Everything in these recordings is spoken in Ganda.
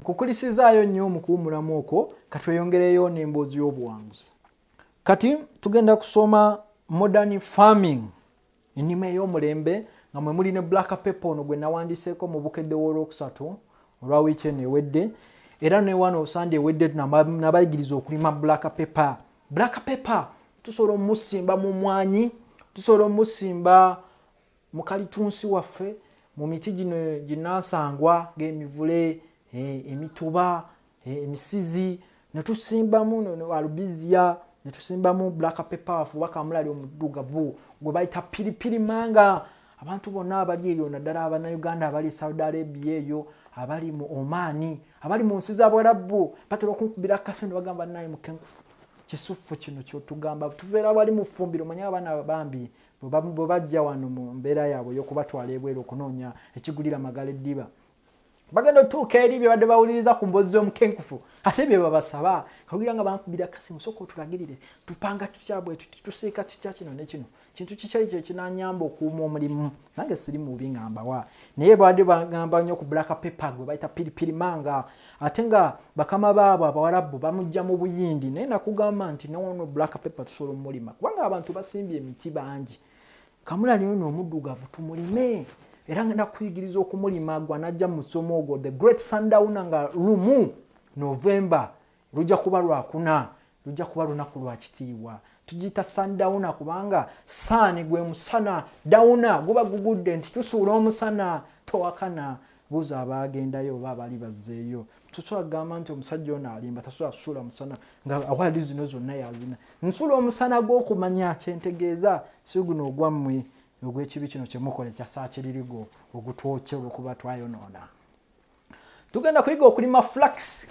nkukulisizaayo nnyo mu kuwumulamu okwo katweyongereyo n'emboozi y'obuwanguzi kati tugenda kusoma modern farming ennima ey'omulembe nga mwe muli ne black paper ono gwe nawandiseeko mu bukedde w'olwokusatu olwa wiiki eno ewedde era newano osande ewedde nabayigiriza okulima black paper black paper tusobola omusimba mu mwanyi tusobola omusimba mukalitunsi waffe mu miti gino ginansangwa ng'emivule eh, emituba eh, emisizi netusimbamu alubizia netusimbamu black paper wafe oba kamulali omuddugavu gwe bayita piripiri manga abantu bonna abali eyo naddala abanauganda abali e saudi arabia eyo abali mu omaani abali mu nsi zabwalabbu batera okunkubira akasi ne bagamba naye mukenkufu kisuffu kino kyotugamba tubeera wali mu ffumbiro manya abaana bambi bwe bajja wano mu mbeera yaabwe ey'okubatwala ebweru okunoonya ekigulira magala eddiba bagenda otuuka eri bye badde bawuliriza ku mbozi z'omukenkufu ate bye babasaba kawulira nga bankubira kasimu soka otulagirire tupanga tutya bwe tuti tusiika kitya kino ne kino kintu kikya ekyo ekinanyamba okuuma omulimu nange siri mubi nga mbawa naye baadde bagamba nnyo ku black paper gwe bayita piripiri manga ate nga bakama baabo abawarabu bamujja mu buyindi naye nakugamba nti noono black paper tusobola omulima kubanga abantu basimbye emiti bangi kamulali ono omuddugavu tumulime era nga nakuyigiriza okumulima gwa najja mu musomo ogwo the great sundowna nga lumu novemba lujja kuba lwakuna Lujja kuba lunaku lwa kitiibwa. Tugiyita sundowner kubanga saani gwe musana, downer guba gugudde nti tusuula omusana. Towakana, buuza abaagendayo oba abaali bazzeeyo. Tosobola kugamba nti omusajja ono alimba, tasobola kusuula musana nga awaadi zino zonna yazina. Nsuula omusana gw'okumanya kye ntegeeza, si guno ogwammwe ogw'ekibi kino kye mukola ekya saakiririgo ogutwokya olw'okuba twayonoona. tugenda kuyiga okulima flax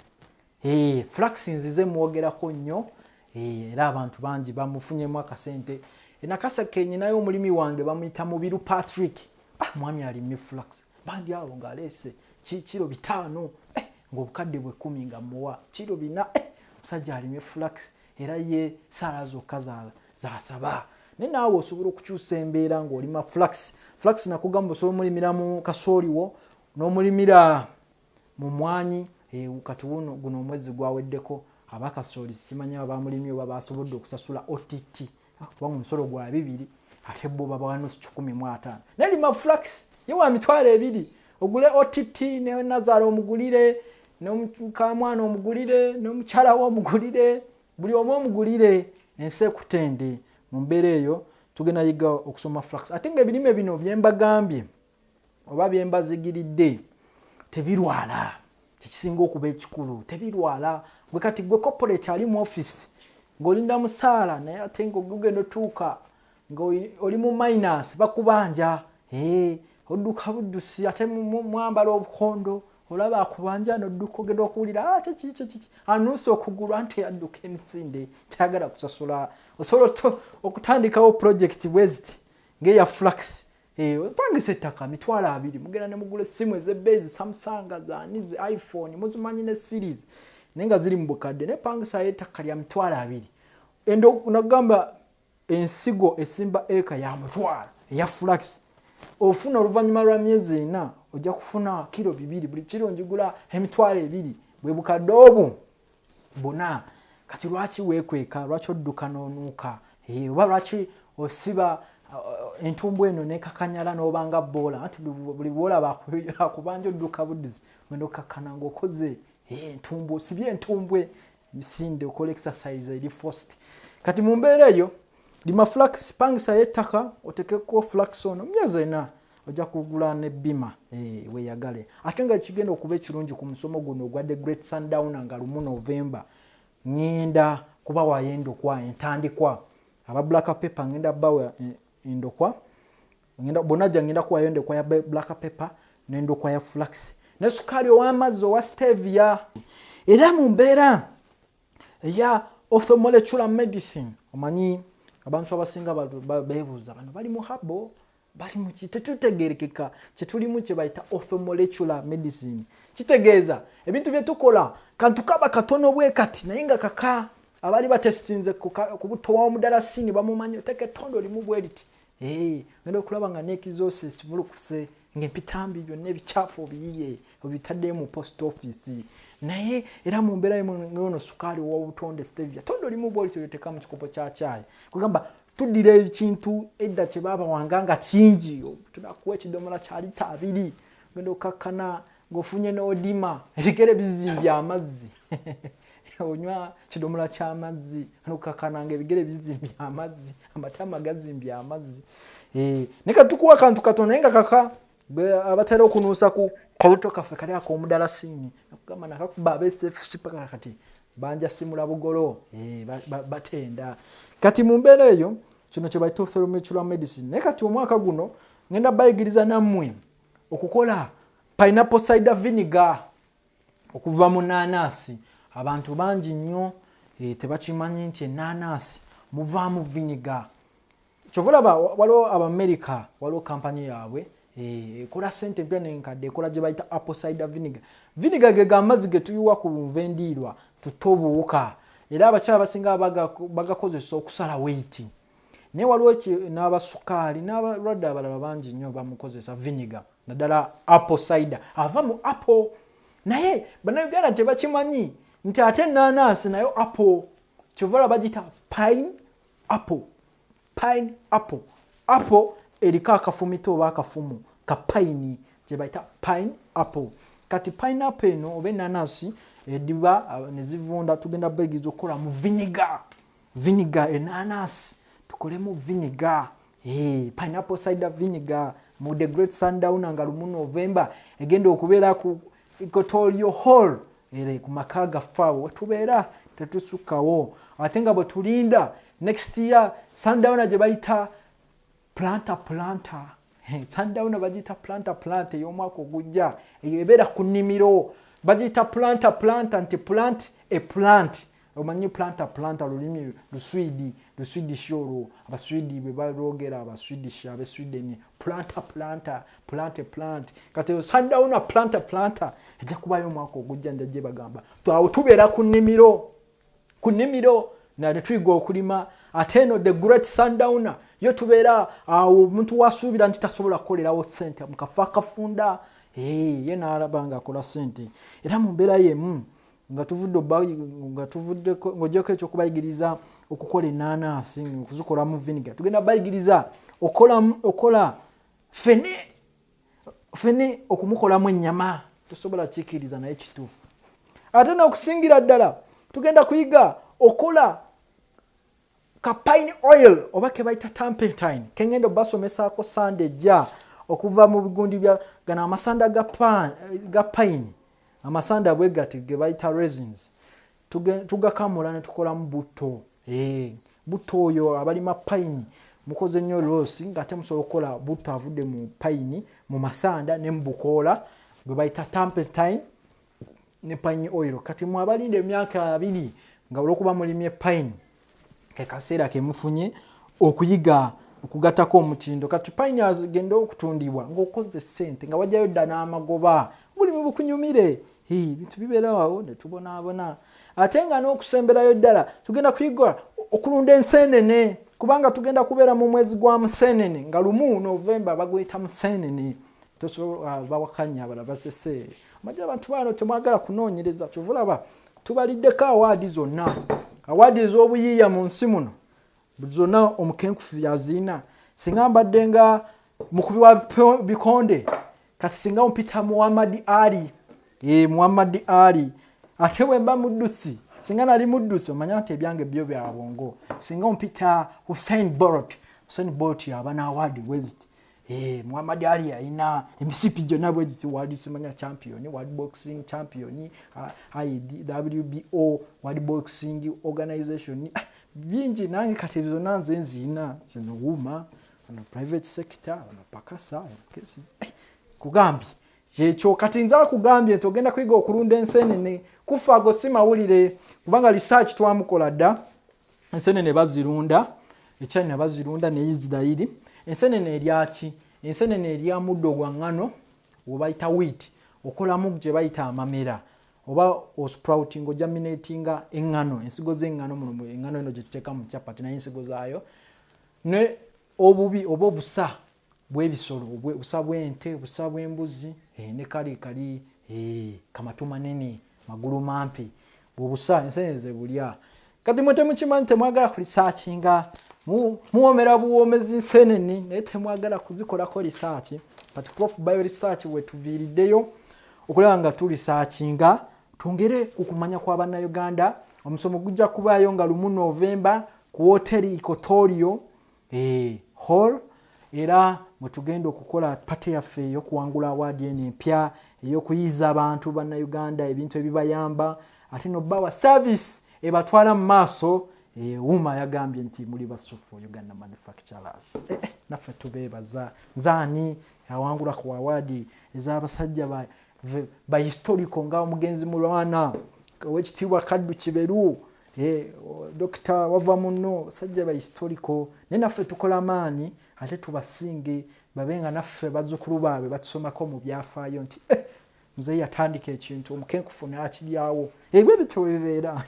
eh, flax nzize mwogerako nnyo eh, era abantu bangi bamufunyemu akasente enakasa kenyinayo omulimi wange bamuyita mubiru patrick ah, mwami alimye flax bandi awo ngaleese kiro bitaano eh, ngaobukadde bwekumi nga muwa kiro bina eh, musajja alimye flax era ye saala zokka zasaba naye naawe osobola okukyusa embeera ngaolima flax flax nakugamba osobola omulimiramu kasooliwo N'omulimira mu mwanyi eh, kati wuno guno omwezi gwaweddeko aba kasooli simanya oba baamulimye oba baasobodde okusasula OTT ah, kubanga omusolo gwa bibiri ate bo babawa nusu kikumi mu ataano naye lima flax ye wa mitwalo ebiri ogule OTT ne Nazala omugulire n'omukamwana omugulire n'omukyala we omugulire buli omu omugulire ensi ekutende mu mbeera eyo tugenda yiga okusoma flax ate nga ebirime bino byembagambye oba byembazigiridde tebirwala kyekisinga okuba ekikulu tebirwala gwe kati gwe corporate ali mu office ngaolinda musaala naye ate nga ogugenda otuuka nga oli mu minus bakubanja eh, odduka buddusi ate mwambala obukondo olaba akubanja nodduka ogenda okuwulira ah, kyekikikiki anuusa okugulu anti adduka emisinde tayagala kusasula osobola okutandikawo projekiti bweziti ngaeya flux Eh, pangisa ettaka mitwalo abiri mugenda ne mugula essimu ezebbeeyi zi samsung zaani zi iphone muzimanyi ne series naye nga ziri mu bukadde naye pangisayo ettaka lya mitwalo abiri ende nagamba ensigo esimba eka ya mutwalo eya flax ofuna oluvannyuma lwa myezi ena ojja kufuna kiro bibiri buli kiro njigula emitwalo ebiri bwe bukadde obu bona kati lwaki wekweka lwaki odduka nonuuka eh, oba lwaki osiba uh, entumbu eno nekakanyala nobanga boola anti buli boola bakubanja odduka budizi genda okkakkana ngaokoze eh, entumbu osibye entumbwe misinde okola exercise eri fost kati mu mbeera eyo lima flax pangisa yettaka otekeko flax ono myezi ena ojja kugula ne bima eh, weyagale ate nga kigenda okuba ekirungi ku musomo guno ogwa the great sundowner nga lumu novemba ŋŋenda kuba wayo endokwa entandikwa aba black paper ŋŋenda bawa eh, endokwa bonna jja ŋŋenda kuwayo endokwa ya black paper n'endokwa ya flax ne sukaali ow'amazzi owa stevia era mu mbeera eya orthomolecular medicine omanyi abantu abasinga beebuuza bano bali mu habo bali muki tetutegerekeka kyetulimu kyebayita orthomolecular medicine kitegeeza ebintu byetukola kantu kaba katono bwe kati naye nga kaka abaali batesitinze kubutowa omudala sini bamumanyi oteka etondo limu bwe liti eh, ngenda okulaba nga nekizosi simulukuse ngaempitambi byonna ebikyafu obiyiye obitaddeyo mu post office naye era mu mbeera yono sukaali owa obutonde stevia tondo limu bwe liti olyoteka mu kikopo kya kyayi kugamba tuddira ekintu edda kye baabawanga nga kingi tunakuwa ekidomola kya lita abiri ogenda okakkana ng'ofunye n'odima ebigere bizimbye amazzi onywa kidomola ky'amazzi nokakkana nga ebigere bizimbye amazzi amatama gazimbye amazzi eh, naye katukuwa akantu katono naye nga kaka abatera okunuusa ku kawuto kaffe kali akomudalasini nakugamba nakakuba abesfc paka kati banja simula bugolo eh, batenda kati mu mbeera eyo kino kyebaita othromutural medicine naye kati omwaka guno ngenda bayigiriza nammwe okukola pineapple cider vinegar okuva mu nanasi abantu bangi nnyo eh, tebakimanyi nti enanasi muvaamu vinegar kyova olaba waliwo abamerica waliwo kampani yaabwe eh, ekola sente empya nenkadde ekola gye bayita apple cider vinegar vinegar ge ga mazzi ge tuyiwa ku lunva endiirwa tutte obuwuka era abakyala basinga bagakozesa okusala weiti naye waliwo n'abasukaali n'abalwadde abalala bangi nnyo bamukozesa vinegar naddala apple cider ava mu apple naye banauganda tebakimanyi nti ate enanansi nayo apple kyovala bagita pine apple pine apple apple eriko akafumito oba akafumu ka pine gyebayita pine apple kati pine apple eno oba enanasi ediba eh, nezivunda tugenda begiza okukolamu viniga viniga enanasi tukolemu viniga Hey, pineapple cider vinegar mu the great sundowner nga lumu november egenda okubeera ku equatorio hall ere ku maka gaffaawo wetubeera tetusukkawo ate nga bwe tulinda next year sundowner gye bayita planta planta sundowner bagiyita planta planta ey'omwaka ogujja eyo ebeera ku nnimiro bagiyita planta planta nti plant e plant omanyi planta planta lulimi luswidi luswidish olwo abaswidi bwe balwogera abaswidish abe sweden planta planta plante plant kati eyo sundowna planta planta ejja kubayo omwaka ogujja nja gye bagamba twawo tubeera ku nnimiro ku nnimiro na ne tuyiga okulima ate eno the great sundowna yo tubeera awo omuntu wasuubira nti tasobola kukolerawo sente mukafa akafunda ye naalaba nga akola sente era mu mbeera yemu nga tuvudde nga tuvudde ng'ogyeko ekyokubayigiriza okukola enanasi okuzikolamu viniga tugenda bayigiriza okola fene fene okumukolamu ennyama tosobola kikiriza naye kituufu ate nokusingira ddala tugenda kuyiga okola ka pine oil oba kebayita tampentine kengendo basomesaako sande ejja okuva mu bigundi bya gano amasanda ga, pan, ga pine amasanda bwe gati gebayita resins tugakamula ne tukolamu butto eh, butto oyo abalima pine mukoze nnyo losi ngaate musobola okukola butto avudde mu pine mu masanda ne mu bukoola gwe bayita tampentine ne pine oil kati mwabalinda emyaka abiri nga olwokuba mulimye pine kekaseera kemufunye okuyiga okugatako omutindo kati pine agenda okutundibwa ngaokoze sente nga wajayo dda n'amagoba buli mubukunyumire bintu bibeerawawo netubonaabona ate nga n'okusemberayo ddala tugenda kuyiga okulunda enseenene kubanga tugenda kubeera mu mwezi gwa museenene nga lumu novemba bagweta museenene tosobola ah, bawakanya abalala basese amaja abantu bano temwagala kunoonyereza kyova olaba tubaliddeko awaadi zonna awaadi ez'obuyiiya mu nsi muno zonna omukenkufu yaziina singa mbadde nga mukubi wa bikonde kati singa mpita muhammadi ali e muhammadi ali ate bwemba muddusi singa nali muddusi omanya nti ebyange byo byabwongo singa mpita hussein borot hussein borot yaba n'awaadi weziti Eh, Muhammad Ali ayina emisipi gyonna bwe giti World Simanya Champion, World Boxing Champion, IWBO, World Boxing Organization. Ah, bingi nange kati ebyo zonna nze nziina zino wuuma ono private sector ono pakasa eh, kugambye kyekyo kati nze akugambye nti ogenda kuyiga okulunda ensenene kufa ago si mawulire kubanga research twamukola dda ensenene bazirunda echina bazirunda ne isirairi ensenene eryaki ensenene erya muddo gwa ŋŋano webayita wit okolamu gye bayita amamera oba osprouting ojaminatinga eŋŋano ensigo z'eŋŋano muno eŋŋano eno gye tuteeka mu capati naye ensigo zaayo ne obubi oba obusa bwebisolo obusa bwente obusa bwembuzi eh, ne kali kali eh, kamatu manene magulu mampi bwobusa ensenene zebulya kati mwe temukimanyi temwagala kulisakinga muwomera buwomezi nsenene naye temwagala kuzikolako lisaaki kati prof bio lisaaki wetuviiriddeyo okulaba nga tulisakinga twongere ku kumanya kwa bannayuganda omusomo gujja kubaayo nga lumu novemba ku woteri ikotorio Eeh hall era mwetugenda okukola pate yaffe eyokuwangula awaadi eno empya eyokuyiiza abantu bannauganda ebintu ebibayamba ate nobawa service ebatwala mu maaso ewuuma yagambye nti muli basuffu uganda manufacturers eh, eh, naffe tubeebaza zaani awangula ku awaadi ezabasajja ba, ba historical nga omugenzi mulwana owekitiibwa kaddu kiberu Eh, dokita wava muno sajja ba historical naye naffe tukola maanyi ate tubasinge babe nga naffe bazukulu baabwe batusomako mu byafaayo nti eh, muzeyi yatandika ekintu omukenkufu nakiryawo ebyo eh, bityo webibeera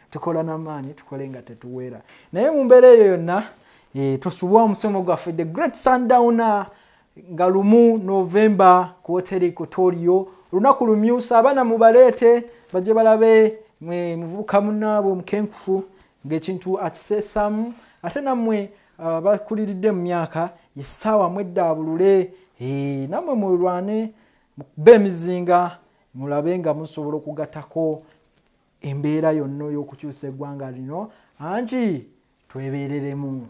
tukola namaanyi tukole nga tetuweera naye mu mbeera eyo yonna tosubwa omusomo gwaffe the great sundowner nga lumu novemba ku woteri kotorio olunaku lumyusa abaana mubaleete bajje balabe muvubuka munaabwe omukenkufu ngaekintu akiseesamu ate nammwe uh, bakuliridde mu myaka yessaawa mweddaabulule eh, nammwe mulwane mukube emizinga mulabe nga musobola okugatako embeera yonna ey'okukyusa eggwanga lino anti twebereremu